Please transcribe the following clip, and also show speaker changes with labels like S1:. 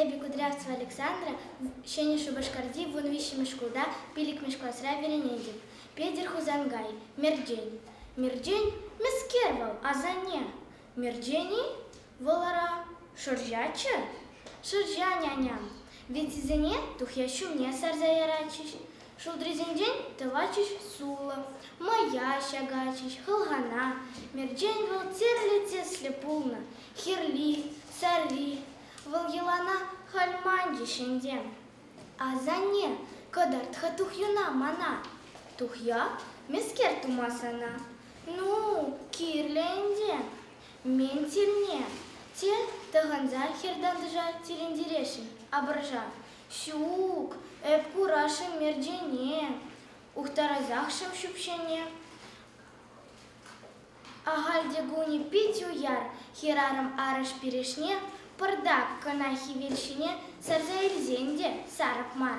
S1: Эпӗ Кудрявцева Александра, Ҫӗнӗ Шупашкарти вун виҫҫӗмӗш шкулта пиллӗкмӗш класра вӗренетӗп. Петӗр Хусанкай, Мӗрчен. Мӗрчен, мӗскер вӑл, асанне? Мӗрчен-и? Вӑл ара, шӑрҫаччӗ. Шӑрҫа, няням. Витисене тухья ҫумне сарса яратчӗҫ. Шултрисенчен тӑватчӗҫ сулӑ, мӑя ҫакатчӗҫ хӑлхана. Мерчен вӑл тӗрлӗ тӗслӗ пулнӑ, хирли, сарри. Вӑл йӑлана халь манчӗҫ ӗнтӗ. Асанне, кӑтарт-ха тухьюна мана. Тухья? Мӗскер тума сана? Ну, кирлӗ ӗнтӗ. Мӗн тирне? Те тӑхӑнса хӗр-тантӑша тӗлӗнтересшӗн, апӑрша? Ҫук, эп курасшӑн Мерджене, ухтарасахшӑн ҫӳпҫене. Ахаль те кулни пит уяр, хӗрарӑм арӑш-пирӗшне пӑртак кӑна хӗвел ҫине сарса илсен те сарӑп мар.